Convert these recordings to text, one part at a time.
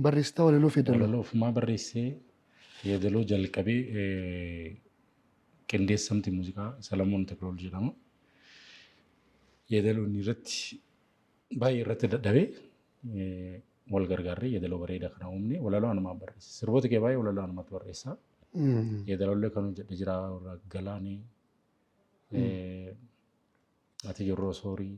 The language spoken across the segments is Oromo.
barreessitaa walaloof yeedaloo. Walaloo ofumaa barreessee yeedaloo jalqabee qindeessamti muuziqaa Salamoon Teklool jedhama. Yeedaloo inni irratti baay'ee irratti dadhabee wal gargaarree yeedaloo bareeda kana uumne walaloo anumaan barreesse. Sirboota kee baay'ee walaloo anumatti barreessa. Yeedaloollee kan hojjedhe jira warra Galaanee, Ati Jirroo Soorii.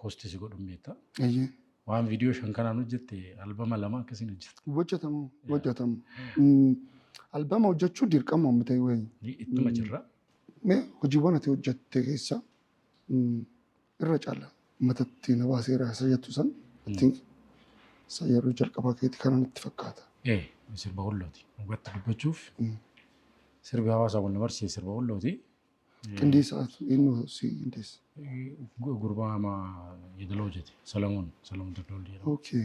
kosti si godhun beekta. Eeyyee. Waan viidiyoo shan kanaan hojjette albama lama akkasiin hojjetta. Hojjetamu hojjetamu. Albama hojjechuu dirqama amma ta'e wayi. Ittuma jirra. Mee hojiiwwan ati hojjette keessa irra caala matatti na baaseera isa jettu san ittiin isa yeroo jalqabaa keeti kanan itti fakkaata. Ee sirba wallooti. Dhugaatti dubbachuuf sirbi hawaasaa wal na barsiise sirba wallooti. Qindeessaatu eenyu si qindeessa? Gurbaa ama idila hojjete Salamoon Salamoon Taddoollee jedhama. Okay.